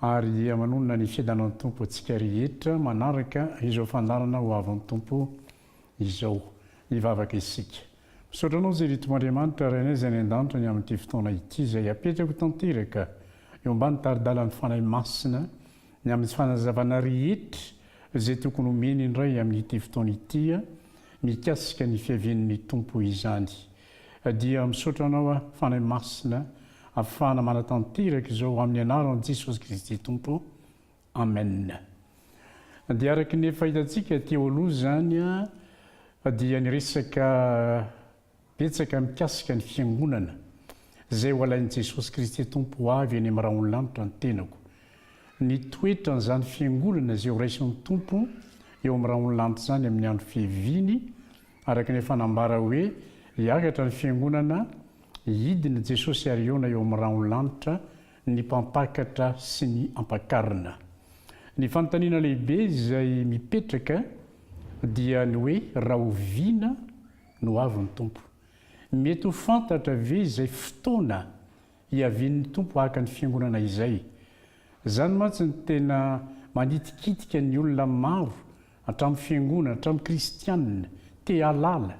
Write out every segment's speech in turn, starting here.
Ary aman'olona ny fiadanan'ny Tompo antsika rehetra manaraka izao fandaharana ho avin'ny Tompo izao. Hivavaka isika. Misaotra Anao Jery Tompoandriamanitra Rainay izay any an-danitra ny amin'ity fotoana ity izay apetrako tanteraka eo ambany tari-dalan'ny Fanahy Masina ny amin'ny fanazavana rehetra izay tokony homeny indray amin'ity fotoana ity mikasika ny fiavian'ny Tompo izany. Dia misaotra anao aho Fanahy Masina afahana manatanteraka izao amin'ny anaran'i Jesosy Kristy Tompo Amen. Dia araka ny efa hitantsika teo aloha izany dia niresaka betsaka mikasika ny fiangonana izay ho alain'i Jesosy Kristy Tompo ho avy any amin'ny rahon'ny lanitra ny tenako. Ny toetran'izany fiangonana izay ho raisin'ny Tompo eo amin'ny rahon'ny lanitra izany amin'ny andro fiaviany Araka ny efa nambara hoe hiakatra ny fiangonana, hidina i Jesosy ary hihaona eo amin'ny rahonlanitra ny mpampakatra sy ny ampakarina. Ny fanontaniana lehibe izay mipetraka dia ny hoe rahoviana no avy ny Tompo? Mety ho fantatra ve izay fotoana Hiavian'ny Tompo haka ny Fiangonana izay. Izany mantsy no tena manitikitika ny olona maro hatramin'ny Fiangonana, hatramin'ny Kristianina, te-hahalala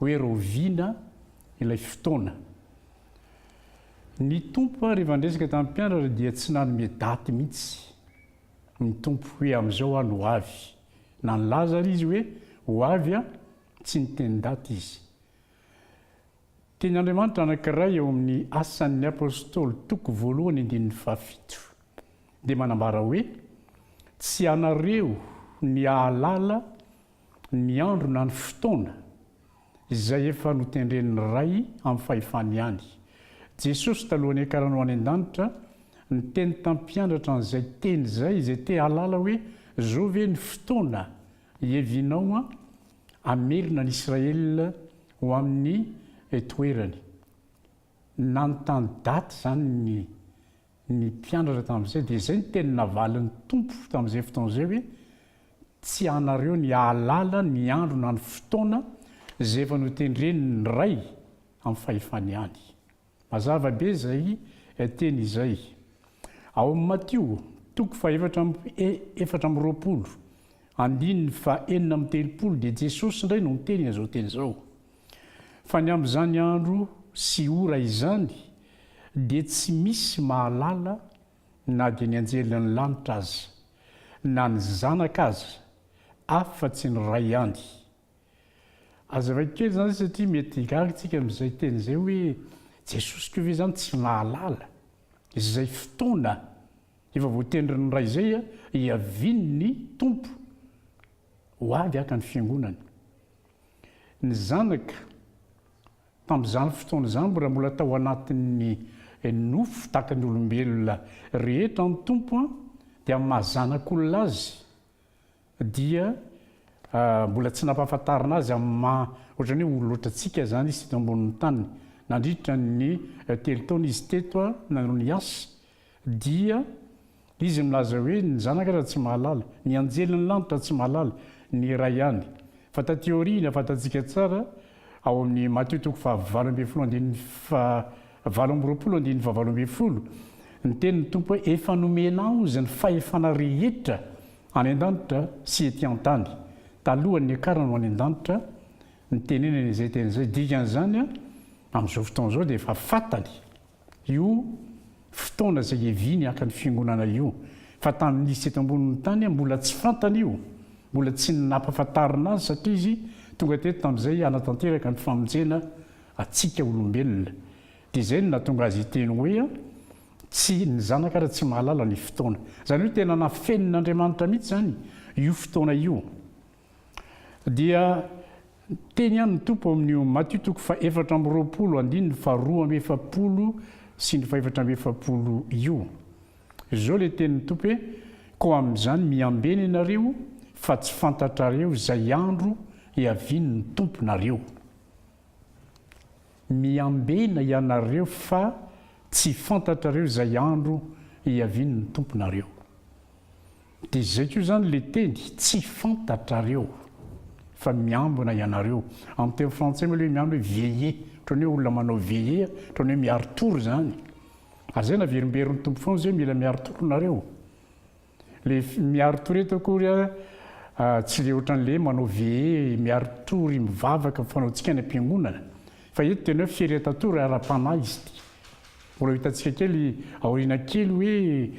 hoe rahoviana ilay fotoana. Ny Tompo ary efa niresaka tamin'ny mpianatra dia tsy nanome daty mihitsy ny Tompo hoe amin'izao aho no ho avy. Na nilaza ary Izy hoe ho avy aho, tsy niteny daty Izy. Teny Andriamanitra anankiray ao amin'ny Asan'ny Apostoly toko voalohany andininy fahafito dia manambara hoe, Tsy ianareo ny hahalala ny andro na ny fotoana, izay efa notendren'ny Ray amin'ny fahefany ihany. Jesosy talohan'ny hiakarany ho any an-danitra, niteny tamin'ny mpiandratra an'izay teny izay, izay te-hahalala hoe, Zao ve ny fotoana Hevinao hamerina an' Israël ho amin' ny toerany. Nanontany daty izany ny ny mpianatra tamin' izay dia izay ny teny navalin' ny Tompo tamin' izay fotoana izay hoe, Tsy anareo ny hahalala ny andro na ny fotoana izay efa notendren' ny Ray amin' ny fahefany ihany. Mazava be izay teny izay. Ao amin'ny Matio, toko fahaefatra amby efatra amby roapolo, andininy fahenina amby telopolo dia Jesosy indray no niteny an'izao teny izao. Fa ny amin'izany andro sy ora izany dia tsy misy mahalala na dia ny anjelin'ny lanitra aza, na ny Zanaka aza, afa-tsy ny Ray ihany. Aza vaky kely izany satria mety higaga isika amin'izay teny izay hoe, Jesosy koa ve izany tsy mahalala izay fotoana efa voatendrin'ny Ray izay hiavian'ny Tompo ho avy haka ny Fiangonany? Ny Zanaka, tamin'izany fotoana izany, mbola mbola tao anatin'ny nofo tahaka ny olombelona rehetra ny Tompo dia maha zanak'olona Azy dia mbola tsy nampahafantarina azy amin'ny maha ohatrany hoe olo loatra antsika izany izy teto ambonin'ny tany. Nandritra ny telo taona izy teto nanao ny asa dia izy milaza hoe ny zanaka aza tsy mahalala, ny anjelin'ny lanitra tsy mahalala, ny iray ihany. Fa taty aoriana fantatsika tsara ao amin'ny Matio toko fahavalo ambin'ny folo andininy faha valo amby roapolo andininy faha valo ambin'ny folo ny tenin'ny Tompo hoe efa nomena aho izany fahefana rehetra Any an-danitra sy ety an-tany. Talohan'ny niakarany ho any an-danitra, nitenenany izay teny izay. Dikan'izany, amin'izao fotoana izao dia efa fantany io fotoana izay hiaviany haka ny Fiangonana io. Fa tamin'ny nisy teto ambonin'ny tany, mbola tsy fantany io. Mbola tsy nampahafantarina azy satria izy tonga teto tamin'izay hanatanteraka ny famonjena antsika olombelona. Dia izay no nahatonga azy hiteny hoe, Tsy, ny Zanaka ary tsy mahalala ny fotoana. Izany hoe tena nafenin'Andriamanitra mihitsy izany io fotoana io. Dia niteny ihany ny Tompo ao amin'io Matio toko fahefatra amby roapolo andininy faharoa amby efapolo sy ny fahefatra amby efapolo io. Izao ilay tenin'ny Tompo hoe, Koa amin'izany miambe ny anareo fa tsy fantatrareo izay andro hiavian'ny Tomponareo. Miambena ianareo fa tsy fantatrareo izay andro hiavian'ny Tomponareo. Dia izay koa izany ilay teny, tsy fantatrareo, fa miambina ianareo. Amin'ny teny frantsay moa ilay hoe miambina hoe veiller, ohatran'ny hoe olona manao veiller, ohatran'ny hoe miari-tory izany. Ary izay naverimberin'ny Tompo foana izay hoe mila miari-tory nareo. Le miaro tory eto akory a tsy le ohatran le manao veillé miaro tory mivavaka fanaontsika any am-piangonana fa eto tena hoe fieretan-tory ara-panahy izy ity. Mbola ho hitantsika kely aoriana kely hoe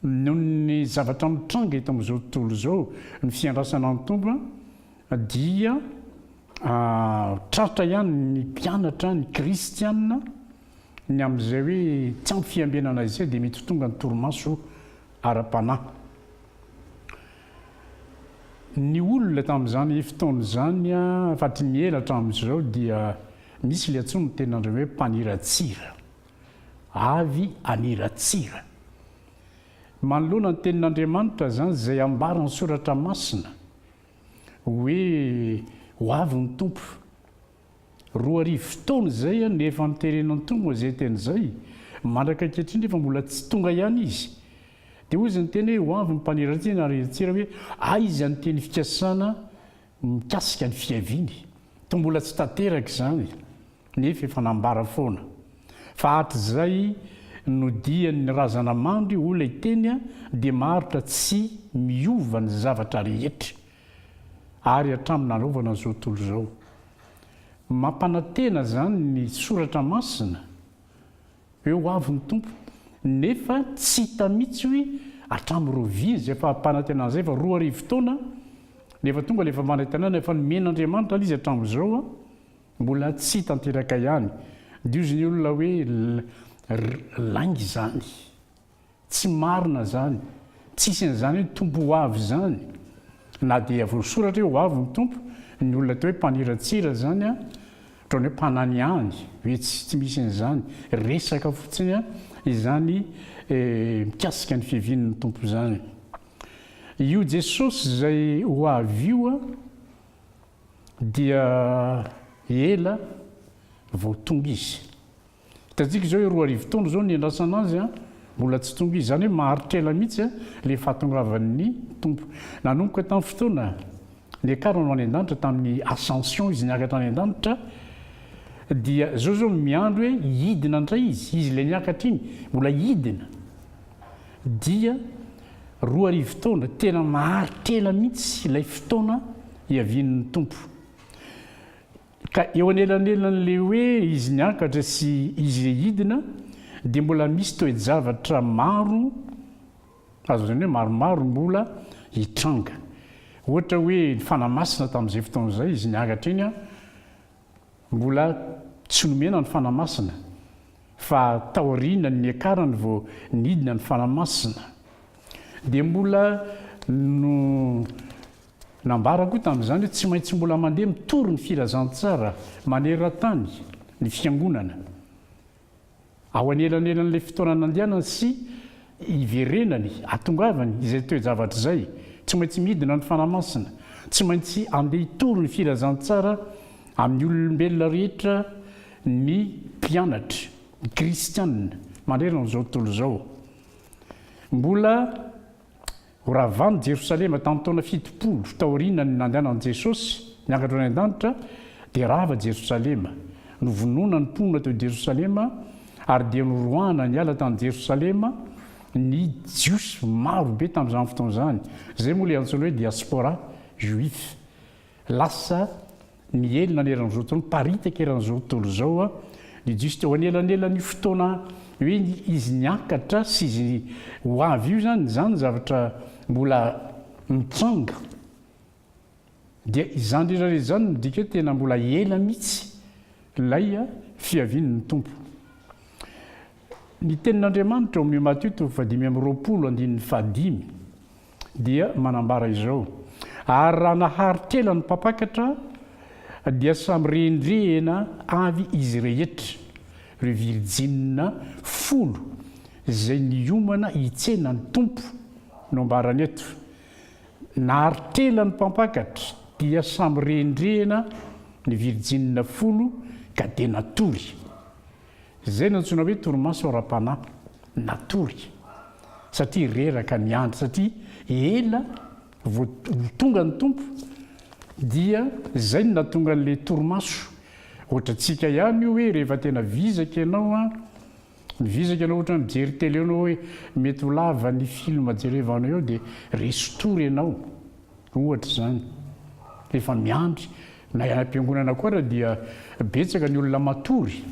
noho ny zavatra mitranga eto amin'izao tontolo izao ny fiandrasana ny Tompo dia tratra ihany ny mpianatra ny kristiana Ny amin'izay hoe tsy ampy fiambenana izay dia mety ho tonga ny torimaso ara-panahy. Ny olona tamin'izany fotoana izany afa-tsy ny ela hatramin'izao dia misy ilay antsoin'ny tenin'Andriamanitra hoe mpaniratsira. Avy haniratsira. Manoloana ny tenin'Andriamanitra izany izay ambaran'ny soratra masina hoe ho avy ny Tompo. Roa arivo taona izay no efa niteren'Antonio izay teny izay, mandraka ankehitriny nefa mbola tsy tonga ihany izy. Dia hoy izy niteny hoe, Ho avy ny mpaniratsira ary hiratsira hoe, Aiza ny teny fikasana mikasika ny fiaviany? Toa mbola tsy tanteraka izany, nefa efa nambara foana. Fa hatrizay nodian'ny razana mandry ho ilay teny dia maharitra tsy miova ny zavatra rehetra. ary hatramin'ny narovana izao tontolo izao. Mampanantena izany ny soratra masina, Eo ho avy ny Tompo, nefa tsy hita mihitsy hoe hatramin'ny rovia izay fampanantenana izay fa roa arivo taona no efa tonga ilay fampanantenana efa nomen'Andriamanitra an izy hatramin'izao mbola tsy tanteraka ihany. Dioziny olona hoe lainga izany. Tsy marina zany, tsisy an'izany hoe Tompo ho avy zany, na dia voasoratra hoe ho avy ny Tompo, ny olona atao hoe mpaniratsira zany an, otrany hoe mpananiany ve tsy tsy misy an'izany, resaka fotsiny an izany mikasika ny fiavian'ny Tompo zany. Io Jesosy izay ho avy io an dia ela vao tonga izy. Hitantsika izao eo roa arivo taona izao niandrasana azy an, mbola tsy tonga izy. Izany hoe maharitra ela mihitsy an ilay fahatongavan'ny Tompo. Nanomboka tamin'ny fotoana niakarany ho any an-danitra, tamin'ny ascension izy niakatra any an-danitra, dia izao izao no miandry hoe hidina indray izy, izy ilay niakatra iny, mbola hidina. Dia roa arivo taona, tena maharitra ela mihitsy ilay fotoana hiavian'ny Tompo. Ka eo anelanelan'ilay hoe izy niakatra sy izy hidina dia mbola misy toe-javatra maro, azo lazaina hoe maromaro mbola hitranga. Ohatra hoe ny fanamasina tamin'izay fotoana izay izy niakatra iny an, mbola tsy nomena ny fanamasina fa taorianan'ny niakarany vao nidina ny fanamasina. Dia mbola no. Nambara koa tamin'izany hoe tsy maintsy mbola mandeha mitory ny filazantsara maneran-tany ny Fiangonana ao anelanelan'ilay fotoana nandehanany sy hiverenany, hahatongavany izay toe-javatra izay. Tsy maintsy midina ny Fanahy Masina. Tsy maintsy andeha hitory ny filazantsara amin'ny ololombelona rehetra ny mpianatra, ny kristiana, manerana izao tontolo izao. Mbola. Ho ravàn'i Jerosalema tamin'ny taona fitopolo taorianan'ny nandehanan'i Jesosy niakatra any an-danitra, dia rava Jerosalema. Novonoina ny mponina teo Jerosalema, ary dia noroahana niala tany Jerosalema ny Jiosy maro be tamin'izany fotoana izany. Izay moa ilay antsoina hoe diaspora juif. Lasa niely naneran'izao tontolo, niparitaka eran'izao tontolo izao ny Jiosy teo anelanelan'io fotoana hoe izy niakatra sy izy ho avy io izany, izany zavatra mbola mitranga. Dia izany rehetra rehetra izany no midika hoe tena mbola ela mihitsy ilay fiavian'ny Tompo. Ny tenin'Andriamanitra ao amin'ny Matio toko fahadimy amby roapolo andininy fahadimy. dia manambara izao, Ary raha naharitra-ela ny mpampakatra, dia samy rendrehina avy izy rehetra, ireo virjinina folo izay niomana hitsena ny Tompo, no ambarany eto. Naharitra-ela ny mpampakatra, dia samy rendrehina ny virjinina folo, ka dia natory. Izay no antsoina hoe torimaso ara-panahy natory satria reraka niandry satria ela vao tonga ny Tompo dia izay no nahatonga an'ilay torimaso ohatra antsika ihany io hoe rehefa tena vizaka ianao an mivizaka ianao ohatra mijery tele ianao hoe mety ho lava ny film jerevanao eo dia resy tory ianao Ohatra izany, rehefa miandry na any am-piangonana koa ary dia betsaka ny olona matory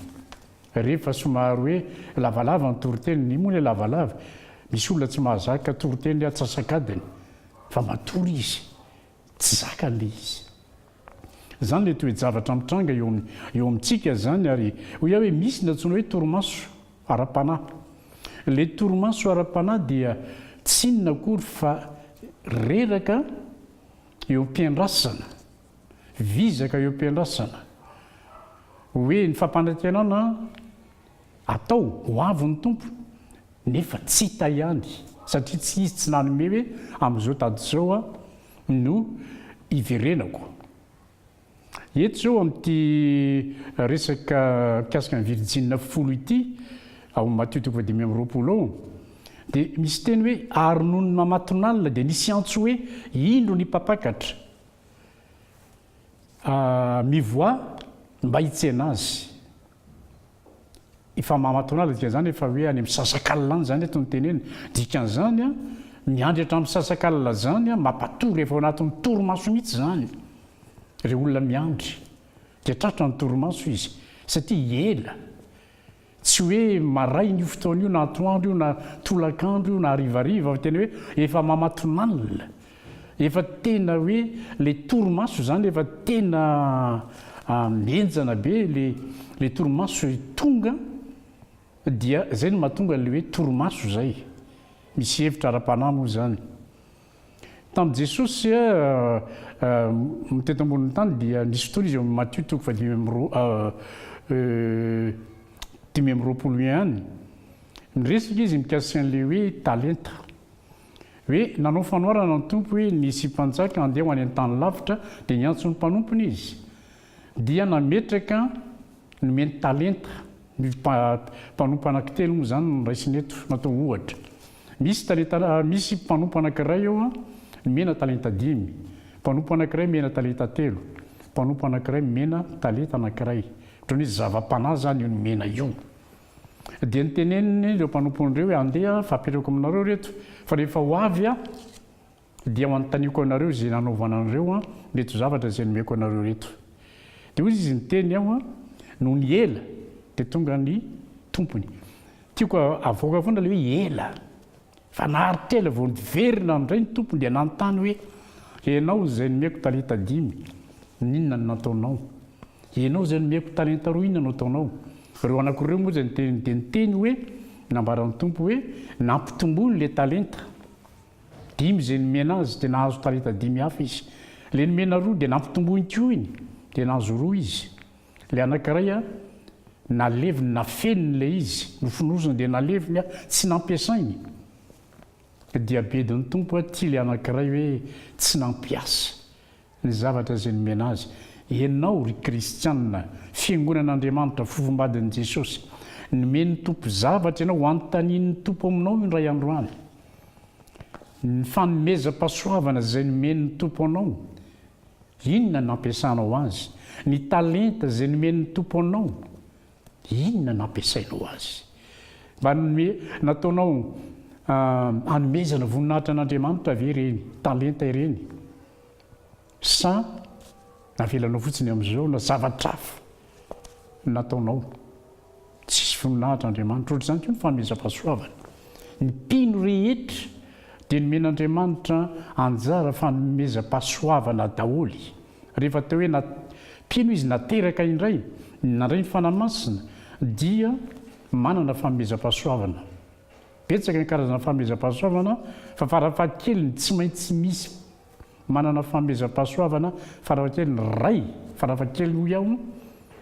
rehefa somary hoe lavalava ny toriteny. Ny moa ilay lavalava? Misy olona tsy mahazaka toriteny atsasak'adiny fa matory izy, tsy zakany ilay izy. Izany ilay toe-javatra mitranga eo eo amintsika izany ary hoy aho hoe misy ny antsoina hoe torimaso ara-panahy. Ilay torimaso ara-panahy dia tsy inona akory fa reraka eo am-piandrasana, vizaka eo am-piandrasana hoe ny fampanantenana an! Atao, ho avy ny Tompo. Nefa tsy hita ihany, satria tsy izy tsy nanome hoe amin'izao daty izao aho no hiverenako. Eto izao amin'ity resaka mikasika ny virjinina folo ity, ao amin'ny Matio toko fahadimy amby roapolo ao, dia misy teny hoe, Ary nony namatonalina dia nisy antso hoe, Indro ny Mpampakatra! Mivoaha mba hitsena azy. Efa maha matonala dikan'izany efa hoe any amin'ny sasakalina any izany eto ny teny eny. Dikan'izany an, miandry hatramin'ny sasakalina izany an, mampatory efa ao anatin'ny torimaso mihitsy izany ireo olona miandry. Dia tratra ny torimaso izy satria ela. Tsy hoe maraina io fotoana io na atoandro io na tolakandro io na harivariva fa tena hoe efa mamatonalina. Efa tena hoe le torimaso zany efa tena mihenjana be le le torimaso tonga dia zay no mahatonga le hoe torimaso zay. Misy hevitra ara-panahy moa zany. Tamin'i Jesosy teto ambonin'ny tany dia nisy fotoana izy ao amin'ny Matio toko fahadimy amby roa dimy amby roapolo ihany. Miresaka izy mikasika an'ilay hoe talenta. Hoe nanao fanoharana ny Tompo hoe nisy mpanjaka handeha ho any an-tany lavitra dia niantso ny mpanompony izy dia nametraka nomeny talenta. Ny mpanompo anankitelo moa izany no noraisina eto, natao ohatra. Misy talenta misy mpanompo anankiray eo an, mena talenta dimy, mpanompo anankiray mena talenta telo, mpanompo anankiray mena talenta anankiray, ohatran'ny hoe zava-panahy izany io ny mena io. Dia noteneniny ireo mpanompony ireo hoe, Andeha, fampihariko aminareo ireto, fa rehefa ho avy aho, Dia ho anontaniako anareo izay nanaovana an'ireo reto zavatra izay nomeko anareo reto. Dia hoy izy niteny aho, Nony ela dia tonga ny tompony. Tiako havoaka foana ilay hoe ela. Fa naharitra ela vao niverina indray ny tompony dia nanontany hoe, Ianao izay nomeko talenta dimy, inona no nataonao? Ianao izay nomeko talenta roa, inona no ataonao? Ireo anako ireo moa izay dia niteny hoe, Nambaran'ny tompo hoe, Nampitomboiny ilay talenta. Dimy izay nomena azy dia nahazo talenta dimy hafa izy. Ilay nomena roa dia nampitomboiny koa iny dia nahazo roa izy. Ilay anankiray an, naleviny, nafeniny ilay izy, nofonosiny dia naleviny an, tsy nampiasainy. Dia bedin'ny Tompo an, ity ilay anankiray hoe tsy nampiasa. Ny zavatra izay nomena azy. Ianao, ry kristiana, fiangonan'Andriamanitra, fofombadin'i Jesosy. Nomen'ny Tompo zavatra ianao, hanontanian'ny Tompo aminao io indray andro any. Ny fanomezam-pahasoavana izay nomen'ny Tompo anao, inona no nampiasanao azy? Ny talenta izay nomen'ny Tompo anao, Inona no nampiasainao azy? Mba nataonao hanomezana voninahitra an'Andriamanitra ve ireny talenta ireny? Sa navelanao fotsiny amin'izao na zavatra hafa no nataonao? Tsisy voninahitra Andriamanitra. Ohatr'izany koa ny fanomezam-pahasoavana. Ny mpino rehetra dia nomen'Andriamanitra anjara fanomezam-pahasoavana daholo. Rehefa teo hoe na mpino izy na teraka indray nandray ny Fanahy Masina dia manana fanomezam-pahasoavana. Betsaka ny karazana fanomezam-pahasoavana fa farafahakeliny tsy maintsy misy manana fanomezam-pahasoavana farafahakeliny iray, farafahakeliny hoy aho,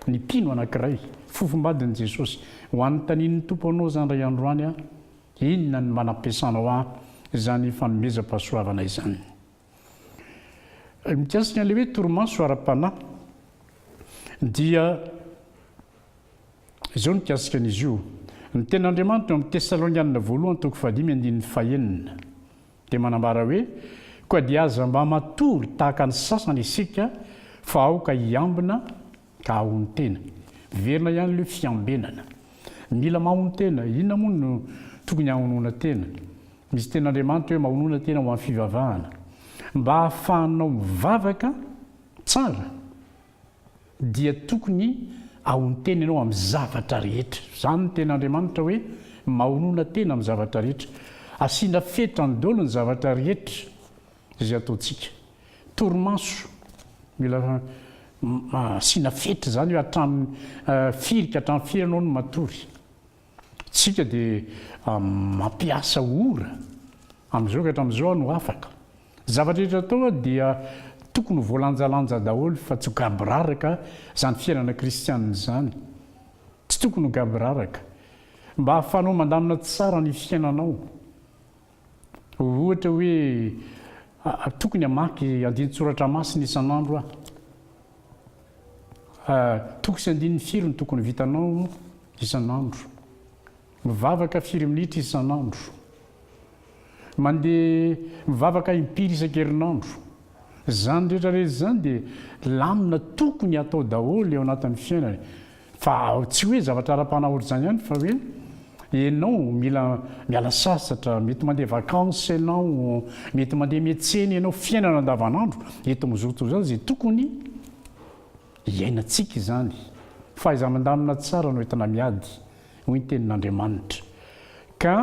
ny mpino anankiray. Fofombadin'i Jesosy, Ho an'ny tanin'ny Tompo anao izany iray andro any aho, inona no mba nampiasanao ahy izany fanomezam-pahasoavana izany? Mikasika an'ilay hoe torimaso ara-panahy dia izao mikasika an'izy io, ny tenin'Andriamanitra ao amin'ny Tesalonianina voalohany toko fahadimy andininy fahenina dia manambara hoe, Koa dia aza mba matory tahaka ny sasany isika fa aoka hiambina Ka ahoan tena? Miverina ihany le fiambenana. Mila mahono tena, inona moa no tokony hahonoana tena? Misy teny Andriamanitra hoe mahonoana tena ho any fivavahana. Mba hahafahanao mivavaka tsara dia tokony ahono tena ianao amin'ny zavatra rehetra. Zany ny teny Andriamanitra hoe mahonoana tena amin'ny zavatra rehetra. Asiana fetra ny dolo ny zavatra rehetra. Izay ataontsika. Torimaso. Mila asiana fetra izany hoe hatramin'ny firy ka hatramin'ny firy ianao no matory. Isika dia mampiasa ora amin'izao ka hatramin'izao aho no afaka. Zavatra rehetra atao dia tokony ho voalanjalanja daholo fa tsy ho gaboraraka izany fiainana kristianina izany. Tsy tokony ho gaboraraka. Mba ahafahanao mandamina tsara ny fiainanao. Ohatra hoe, Tokony hamaky andinin-tsoratra masina isan'andro aho. Toko sy andininy firy no tokony ho vitanao isan'andro? Mivavaka firy minitra isan'andro? Mandeha mivavaka impiry isan-kerinandro? Izany rehetra rehetra izany dia lamina tokony hatao daholo eo anatin'ny fiainana. Fa tsy hoe zavatra ara-panahorizana ihany fa hoe ianao mila miala sasatra, mety mandeha vacances ianao, mety mandeha miantsena ianao, fiainana andavanandro eto amin'ny zotoa izany izay tokony hiainantsika izany. Fahaiza-mandamina tsara no entina miady, hoy ny tenin'Andriamanitra. Ka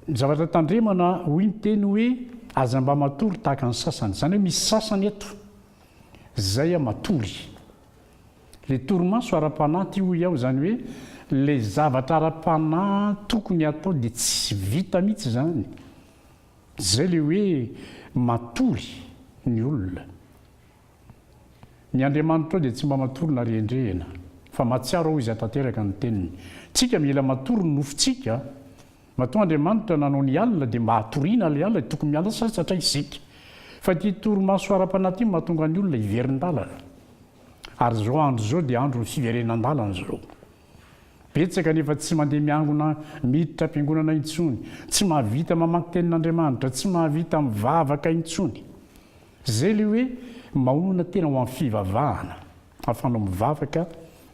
ny zavatra tandremana, hoy ny teny hoe aza mba matory tahaka ny sasany. Izany hoe misy sasany eto Zay aho matory. Le torimaso ara-panahy ty hoy aho zany hoe le zavatra ara-panahy tokony hatao de tsy vita mitsy zany. Zay le hoe matory ny olona. Ny Andriamanitrao de tsy mba matory na rendrehina. Fa matsiaro aho izy hatanteraka ny teniny. Tsika mila matory ny nofontsika Matoa Andriamanitra nanao ny alina dia mba hatoriana ilay alina dia tokony miala sasy satria isika. Fa ity torimaso ara-panahy ity no mahatonga ny olona hiverin-dalana. Ary izao andro izao dia andron'ny fiverenan-dalana izao. Betsaka ny efa tsy mandeha miangona miditra am-piangonana intsony, tsy mahavita mamaky tenin'Andriamanitra, tsy mahavita mivavaka intsony. Izay ilay hoe maonona tena ho amin'ny fivavahana. Ahafahanao mivavaka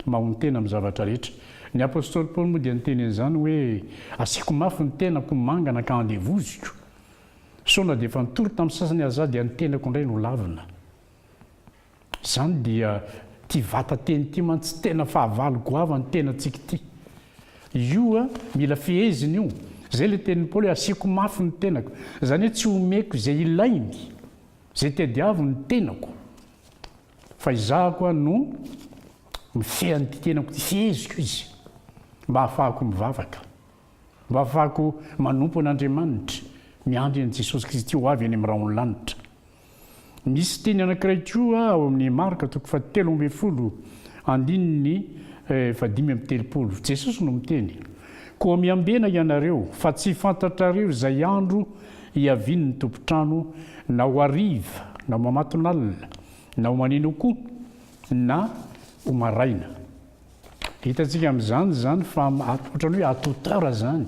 mahontena amin'ny zavatra rehetra. Ny apostoly Paoly moa dia niteny an'izany hoe, Asiako mafy ny tenako ho mangana ka andevoziko. Sao na dia efa nitory tamin'ny sasany aza dia ny tenako indray no lavina. Izany dia ity vatan-teny ity mantsy tena fahavalo goavan'ny tenantsika ity. Io mila fehezina io. Izay ilay tenin'i Paoly hoe, Asiako mafy ny tenako. Izany hoe tsy omeko izay ilainy, izay tadiaviny ny tenako. Fa izaho koa no mifehy an'ity tenako ity, feheziko izy, mba hahafahako mivavaka, mba hahafahako manompo an'Andriamanitra, miandry an'i Jesosy Kristy ho avy any amin'ny rahon'ny lanitra. Misy teny anankiray koa ao amin'ny Marka toko fahatelo ambin'ny folo andininy fahadimy amby telopolo, Jesosy no miteny, Koa miambena ianareo, fa tsy fantatrareo izay andro hiavian' ny tompon-trano na ho hariva na ho mamatonalina na ho maneno koa na ho maraina. Hitantsika amin' izany izany fa ohatran'ny hoe à toute heure izany,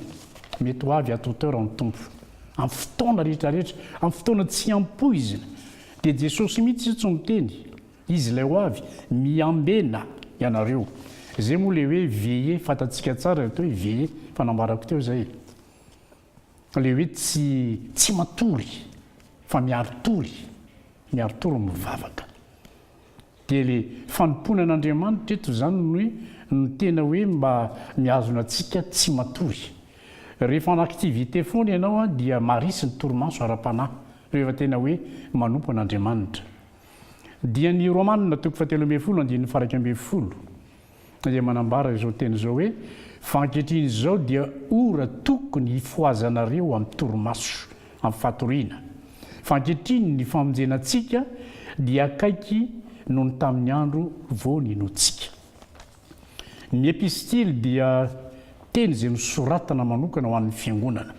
mety ho avy à toute heure ny Tompo, amin'ny fotoana rehetra rehetra, amin'ny fotoana tsy ampoizina. Dia Jesosy mihitsy izao tsy miteny, Izy ilay ho avy, miambena ianareo. Izay moa ilay hoe veillez, fantatsika tsara ilay atao hoe veillez, fa nambarako teo izay e. Ilay hoe tsy tsy matory fa miaro tory, miaro tory mivavaka. Dia ilay fanompoana an'Andriamanitra eto izany no hoe no tena hoe mba mihazona antsika tsy matory. Rehefa en activité foana ianao dia marisy ny torimaso ara-panahy, rehefa tena hoe manompo an'Andriamanitra. Dia ny Romanina toko fahatelo ambin'ny folo andininy faha iraika ambin'ny folo, dia manambara izao teny izao hoe, Fa ankehitriny izao dia ora tokony hifohazanareo amin'ny torimaso, amin'ny fatoriana. Fa ankehitriny ny famonjena antsika dia akaiky noho ny tamin'ny andro vao ninoantsika. Ny epistily dia teny izay nosoratana manokana ho an'ny fiangonana.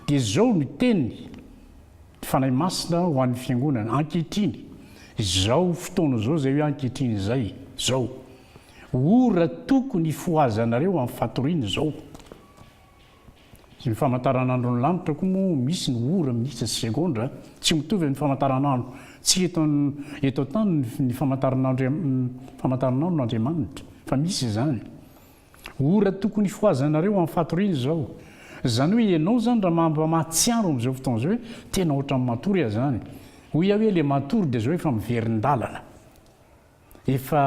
Dia izao ny teny. Fanahy Masina ho an'ny Fiangonana, ankehitriny, izao fotoana izao, izay hoe ankehitriny izay, izao ora tokony hifohazanareo amin'ny fatoriana izao. Sy ny famantaranandron'ny lanitra koa moa misy ny ora, minitra sy segondra, tsy mitovy amin'ny famantaranandro, tsy eto eto an-tany ny famantaranandro famantaranandron'Andriamanitra, fa misy izany. Ora tokony hifohazanareo any fatoriana izao. Izany hoe ianao izany raha mba mahatsiaro amin'izao fotoana izao hoe tena ohatran'ny matory aho izany. Hoy aho hoe ilay matory dia izao efa miverin-dalana. Efa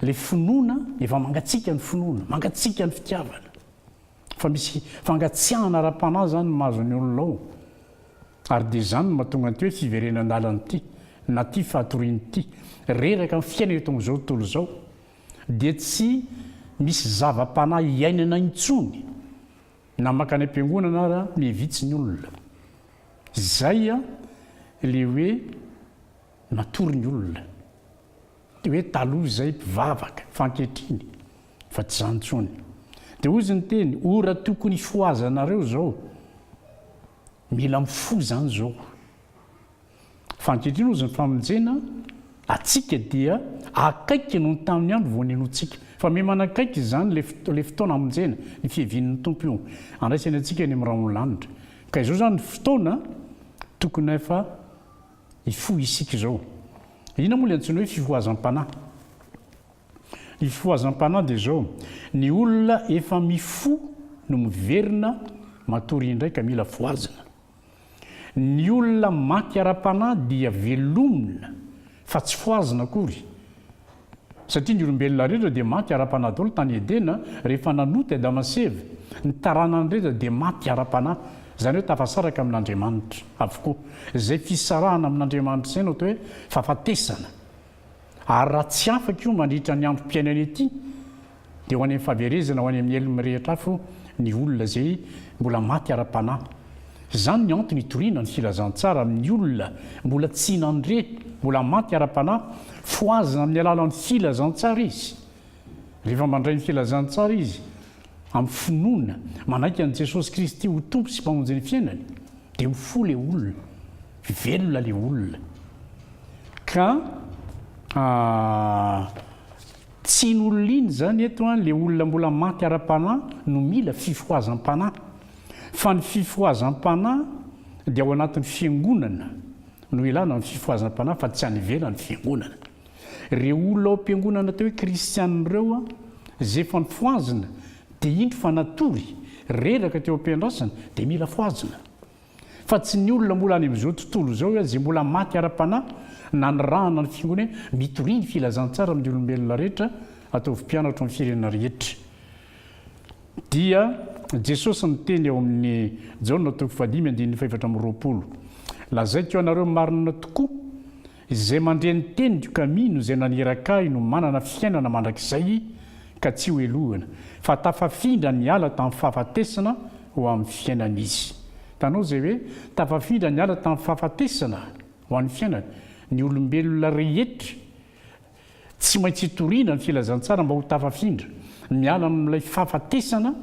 ilay finoana efa mangatsiaka ny finoana, mangatsiaka ny fitiavana. Fa misy fangatsiahana ara-panahy izany no mahazo ny olona ao. Ary dia izany no mahatonga an'ity hoe fiverenan-dalana ity, na ity fatoriana ity. Reraka ny fiainana eto amin'izao tontolo izao. dia tsy misy zava-panahy hiainana intsony na mankany am-piangonana ara mie vitsy ny olona. Izay a le hoe matory ny olona. Hoe taloha izay mpivavaka fa ankehitriny fa tsy izany intsony. Dia hozy ny teny ora tokony hifohazanareo izao. Mila mifoha izany izao. Fa ankehitriny hozy ny famonjena atsika dia akaiky noho ny tamin'ny andro vao ninoantsika. Fa miha manakaiky izany ilay ilay fotoana hamonjena, ny fiavian'ny Tompo io. Handraisany antsika any amin'ny rahon'ny lanitra. Ka izao izany ny fotoana tokony efa hifoha isika izao. Inona moa ilay antsoina hoe fifohazam-panahy? Ny fifohazam-panahy dia izao, ny olona efa mifoha no miverina matory indray ka mila fohazina. Ny olona maty ara-panahy dia velomina fa tsy fohazina akory, satria ny olombelona rehetra dia maty ara-panahy daholo tany Edena rehefa nanota i Adama sy Eva. Ny taranany rehetra dia maty ara-panahy, izany hoe tafasaraka amin'Andriamanitra avokoa. Izay fisarahana amin'Andriamanitra izay no atao hoe fahafatesana. Ary raha tsy afaka io mandritra ny androm-piainana ity dia ho any amin'ny fahaverezana ho any amin'ny helony mirehitra afo ny olona izay mbola maty ara-panahy. Izany ny antony itoriana ny filazantsara amin'ny olona mbola tsy nandre, mbola maty ara-panahy, fohazina amin'ny alalan'ny filazantsara izy. Rehefa mandray ny filazantsara izy amin'ny finoana, manaiky an'i Jesosy Kristy ho Tompo sy Mpamonjin'ny fiainany, dia ho fo ilay olona, velona ilay olona, ka tsy iny olona iny izany eto, ilay olona mbola maty ara-panahy no mila fifohazam-panahy, fa ny fifohazam-panahy dia ao anatin'ny Fiangonana no ilana ny fifohazam-panahy fa tsy any ivelan'ny Fiangonana. Ireo olona ao am-piangonana atao hoe kristiana ireo izay efa nifohazina dia indro fa natory reraka teo am-piandrasana dia mila fohazina. Fa tsy ny olona mbola any amin'izao tontolo izao ihany izay mbola maty ara-panahy nanirahana ny fiangonana hoe mitoria ny filazantsara amin'ny olombelona rehetra, ataovy mpianatra ao amin'ny firenena rehetra. Dia Jesosy niteny ao amin'ny Jaona toko fahadimy andininy fahefatra amby roapolo, Lazaiko anareo marina tokoa, Izay mandre ny teniko ka mino izay naniraka ahy no manana fiainana mandrakizay ka tsy hohelohina, fa tafafindra niala tamin'ny fahafatesana ho amin'ny fiainana izy. Hitanao izay hoe tafafindra niala tamin'ny fahafatesana ho an'ny fiainana? Ny olombelona rehetra tsy maintsy hitoriana ny filazantsara mba ho tafafindra miala amin'ilay fahafatesana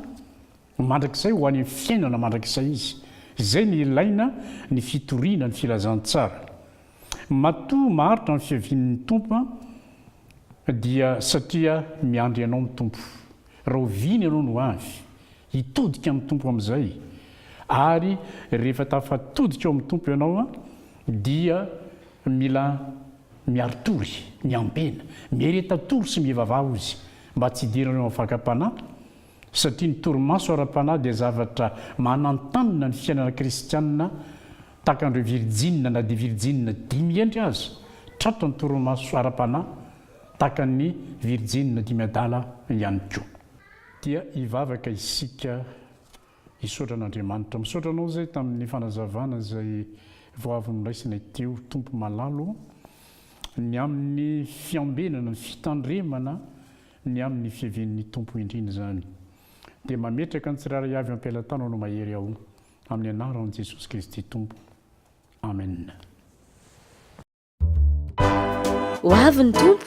Mandrakizay ho any amin'ny fiainana mandrakizay izy. Izay no ilaina ny fitoriana ny filazantsara. Matoa maharitra ny fiavian'ny Tompo an, dia satria miandry anao ny Tompo. Rahoviana ianao no avy? Hitodika amin'ny Tompo amin'izay. Ary rehefa tafatodika ao amin'ny Tompo ianao an, dia mila miaritory, miambena, miareta tory sy mivavaha ozy mba tsy hidiran'ireo amin'ny fakam-panahy, satria ny torimaso ara-panahy dia zavatra manantanina ny fiainana kristianina, tahaka an'ireo virjinina na dia virjinina dimy hendry aza, tratra ny torimaso ara-panahy tahaka an'ny virjinina dimy adala ihany koa. Dia hivavaka isika hisaotra an'Andriamanitra. Misaotra anao izay tamin'ny fanazavana izay vao avy noraisina ity o Tompo malalo, ny amin'ny fiambenana, ny fitandremana ny amin'ny fiavian'ny Tompo indrindra izany, dia mametraka ny tsirairay avy eo am-pelatananao mahery aho, amin'ny anaran'i Jesosy Kristy Tompo. Amena. Ho avy ny Tompo!